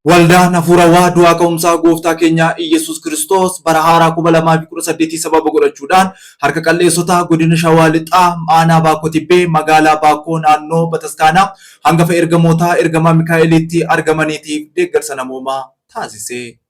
Waldaan hafuurawaa du'aa ka'umsaa gooftaa keenya Iyyasuus Kiristoos bara haaraa 2018 sababa godhachuudhaan harka qalleessotaa godina Shawaa Lixaa aanaa Baakoo Tibbee magaalaa Baakoo naannoo Bataskaanaa hangafa ergamootaa ergamaa Mikaa'eliitti argamaniitiif deeggarsa namoomaa taasise.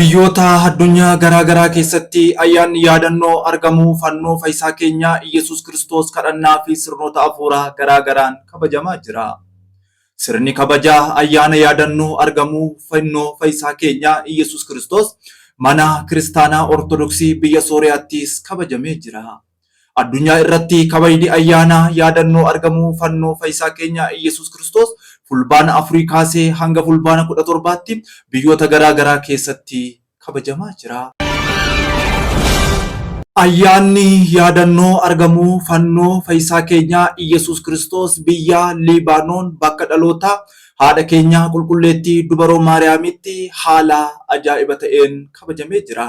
Biyyoota addunyaa garaa garaa keessatti ayyaanni yaadannoo argamuu fannoo fayisaa keenyaa Iyyesuus Kiristoos kadhannaa fi sirnoota afuuraa garaa garaan kabajamaa jira. Sirni kabaja ayyaana yaadannoo argamuu fannoo fayisaa keenyaa Iyyesuus Kiristoos mana kiristaanaa Ortodoksii biyya Sooriyaattis kabajamee jira. Addunyaa irratti kabajni ayyaana yaadannoo argamuu fannoo fayisaa keenya Iyyesuus Kiristoos Fulbaana afurii kaasee hanga Fulbaana kudha torbaatti biyyoota garaa garaa keessatti kabajamaa jira. Ayyaanni yaadannoo argamuu fannoo fayisaa keenya Iyyesuus Kiristoos biyya Liibaanoon bakka dhalootaa haadha keenya qulqulleettii dubaroo Maariyaamitti haala ajaa'iba ta'een kabajamee jira.